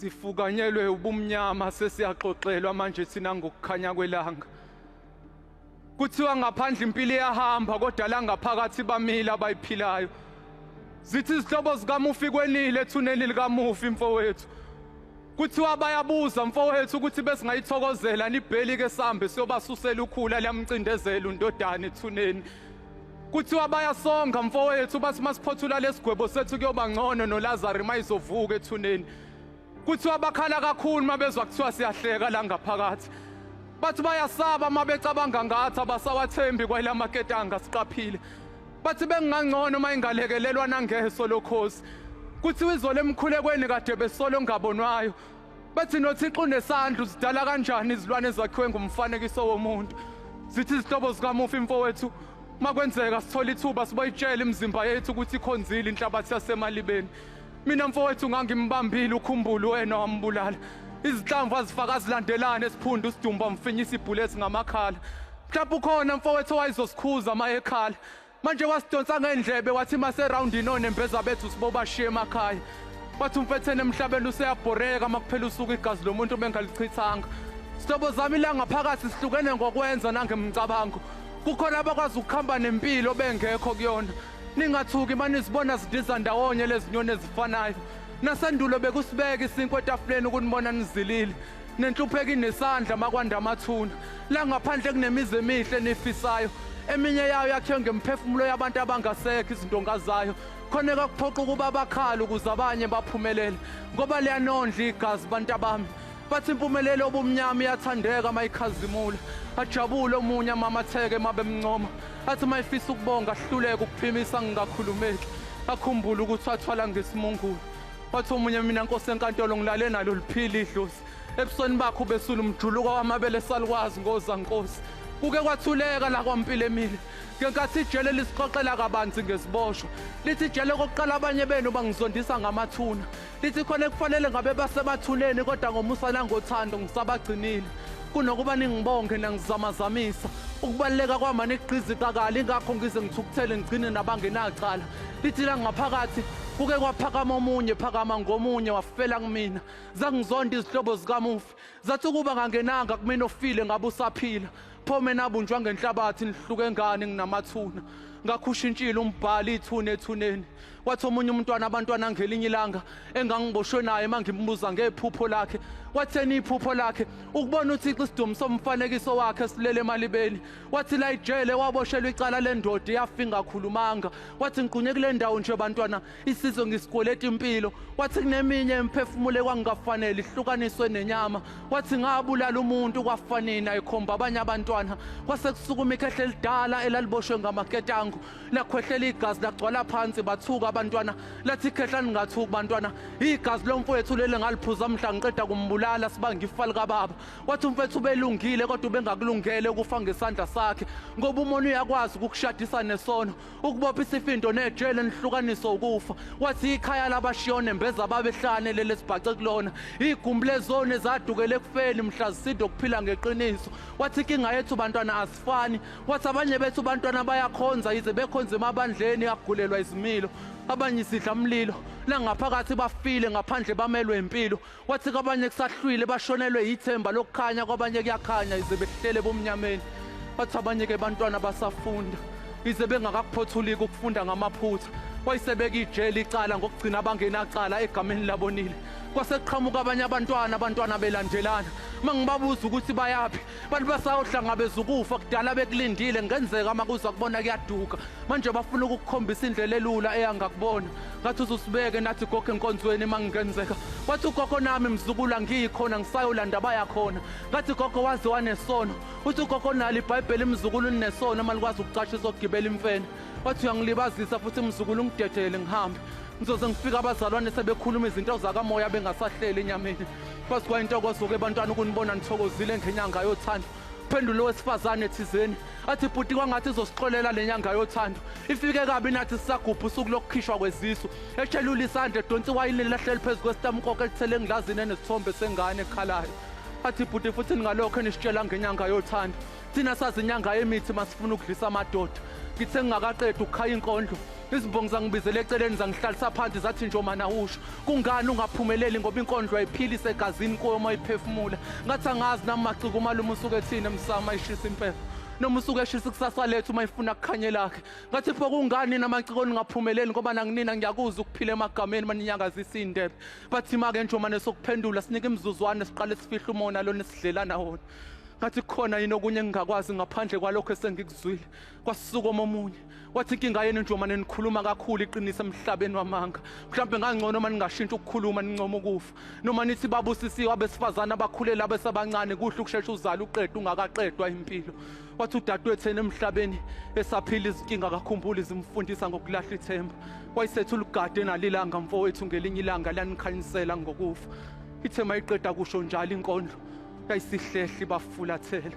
sifukanyelwe ubumnyama sesiyaxoxelwa manje thina ngokukhanya kwelanga kuthiwa ngaphandle impilo iyahamba kodwa la ngaphakathi bamile abayiphilayo zithi izihlobo zikamufi kwenile ethuneni likamufi mfowethu Kuthiwa bayabuza mfowethu ukuthi besingayithokozela nibheli ke sambe siyobasusela ukhula liyamcindezela undodana ethuneni. Kuthiwa bayasonga mfowethu bathi masiphothula lesigwebo sethu kuyoba ngcono noLazaro mayizovuka ethuneni. Kuthiwa bakhala kakhulu mabezwa kuthiwa siyahleka la ngaphakathi. Bathi bayasaba mabecabanga ngathi abasawathembi kwelamaketanga siqaphile. Bathi bengingangcono uma ingalekelelwa nangeso lokhozi. Kuthiwa izolo emkhulekweni kade besolo ngabonwayo. Bathi noThixo unesandla uzidala kanjani izilwane ezakhiwe ngumfanekiso womuntu. Zithi izihlobo zikamufi mfowethu makwenzeka sithola ithuba siboyitshela imizimba yethu ukuthi ikhonzile inhlabathi yasemalibeni. Mina mfowethu ngangimbambile ukhumbuli wena wambulala. Izinhlamvu azifaka azilandelane esiphundu sidumba mfinyisa ibhulesi ngamakhala. Mhlawumbe ukhona mfowethu owayezosikhuza uma ekhala. Manje wasidonsa ngendlebe wathi mase round ino nembeza bethu siboba shiye emakhaya. Wathi umfethene emhlabeni useyabhoreka makuphela usuku igazi lomuntu bengalichithanga. Sihlobo zami ilanga phakathi sihlukene ngokwenza nangemcabango. Kukhona abakwazi ukuhamba nempilo bengekho kuyona. Ningathuki manizibona zidiza ndawonye lezinyoni ezifanayo. Nasendulo bekusibeka isinkwa etafuleni ukunibona nizilile. Nenhlupheko inesandla makwanda amathuna. La ngaphandle kunemizi emihle nifisayo. Eminye yayo yakhiwe ngemphefumulo yabantu abangasekho izindonga zayo. Khona kakuphoqa ukuba bakhala ukuze abanye baphumelele. Ngoba liyanondla igazi bantu abami. Bathi impumelelo obumnyama iyathandeka mayikhazimula. Ajabule omunye amamatheke mabemncoma. Athi mayifisa ukubonga ahluleke ukuphimisa ngingakhulumeki. Akhumbule ukuthi wathwala ngesimungulu. Wathi omunye mina nkosi enkantolo ngilale nalo liphila idlozi. Ebusweni bakho ubesula umjuluko wamabele salukwazi ngoza nkosi. Kuke kwathuleka la kwampilo emile. Ngenkathi ijele lisixoxela kabanzi ngeziboshwa. Lithi ijele kokuqala abanye benu bangizondisa ngamathuna. Lithi khona kufanele ngabe basemathuneni kodwa ngomusa nangothando ngisabagcinile. Kunokuba ningibonge nangizamazamisa, ukubaluleka kwama nigqiziqakala ingakho ngize ngithukuthele ngigcine nabangenacala. Lithi la ngaphakathi kuke kwaphakama omunye phakama ngomunye wafela kumina. Zangizonda izihlobo zikamufi Zathi ukuba ngangenanga kumina ofile ngabe usaphila. Pho mina abunjwa ngenhlabathi nihluke ngani nginamathuna. Ngakhushintshile umbhali ithuna ethuneni. Wathi omunye umntwana abantwana ngelinye ilanga engangiboshwe naye mangimbuza ngephupho lakhe. Watheni iphupho lakhe ukubona uThixo isidumo somfanekiso wakhe silele emalibeni. Wathi la ijele waboshelwa icala lendoda yafinga khulumanga. Wathi ngiqunye kule ndawo nje bantwana Isizwe ngisikweleta impilo wathi kuneminye emphefumulo ekwangingafanele ihlukaniswe nenyama wathi ngabulala umuntu kwafanini ayikhomba abanye abantwana kwase kusukuma ikhehle elidala elaliboshwe ngamaketango lakhwehlela igazi lagcwala phansi bathuka abantwana lathi ikhehla ningathuki bantwana igazi lomfowethu leli ngaliphuza mhla ngiqeda kumbulala sibanga ifa likababa wathi umfethu ubelungile kodwa ubengakulungele ukufa ngesandla sakhe ngoba umona uyakwazi ukukushadisa nesono ukubopha isifindo nejele nihlukaniswa ukufa wathi ikhaya labashiya onembeza babehlane lele sibhace kulona igumbi lezone zadukele ekufeni mhla ziside ukuphila ngeqiniso wathi inkinga yethu bantwana asifani wathi abanye bethu bantwana bayakhonza yize bekhonza emabandleni agulelwa izimilo abanye sidla mlilo langaphakathi bafile ngaphandle bamelwe impilo Wathi kwabanye kusahlwile bashonelwe yithemba lokukhanya kwabanye kuyakhanya ize behlele bomnyameni. Wathi abanye ke bantwana basafunda ize bengakakuphothuliki ukufunda ngamaphutha. Wayisebeka ijele icala ngokugcina abangenacala egameni labonile. Kwase kuqhamuka abanye abantwana abantwana belandelana. Mangibabuza ukuthi bayaphi abantu basawuhlangabeza ukufa kudala bekulindile ngenzeka uma kuza kubona kuyaduka manje bafuna ukukukhombisa indlela elula eyanga kubona ngathi uzusibeke nathi gogo enkonzweni uma ngingenzeka wathi ugogo nami mzukula ngiyikhona ngisayolanda bayakhona ngathi gogo waze wanesono uthi ugogo nalo ibhayibheli mzukulu ninesono uma likwazi ukucasha izogibela imfene wathi uyangilibazisa futhi mzukulu ungidedele ngihambe ngizoze ngifike abazalwane sebekhuluma izinto zakamoya bengasahleli enyameni Kwazi kwayintokozo-ke ebantwana ukunibona nithokozile ngenyanga yothando phendula owesifazane thizeni athi bhuti kwangathi izosixolela le nyanga yothando ifike kabi nathi sisagubha usuku lokukhishwa kwezisu eshelula isandla edonsa iwayini lilahleli phezu kwesitamukoko elithele engilazini enesithombe sengane ekhalayo athi bhuti futhi ningalokho enisitshela ngenyanga yothando thina sazi inyanga yemithi masifuna ukudlisa amadoda ngithe ngingakaqedi ukukhaya inkondlo izimbongi zangibizela eceleni zangihlalisa phansi zathi njomana usho kungani ungaphumeleli ngoba inkondlo ayiphili isegazini kuyo uma iphefumula ngathi angazi nami maciko umalume usuke ethini emsama ishisa impepho noma usuke eshisa ikusasa lethu uma ifuna kukhanye lakhe ngathi pho kungani namaciko ningaphumeleli ngoba nanginina ngiyakuza ukuphila emagameni maninyakazisa iy'ndebe bathi make njomane sokuphendula sinike imizuzwane siqale sifihla umona lona esidlelana wona ngathi khona yini okunye engingakwazi ngaphandle kwalokho esengikuzwile kwasuka omunye wathi inkinga yenu nje uma nenikhuluma kakhulu iqinisa emhlabeni wamanga mhlawumbe ngangcono uma ningashintsha ukukhuluma nincoma ukufa noma nithi babusisiwe abesifazane abakhulele abesabancane kuhle ukushesha uzala uqeda ungakaqedwa impilo wathi udadewethu enemhlabeni esaphila izinkinga akakhumbuli zimfundisa ngokulahla ithemba wayisetha ulugade nalilanga mfowethu ngelinye ilanga lanikhanyisela ngokufa ithema iqeda kusho njalo inkondlo kayisihlehli bafulathela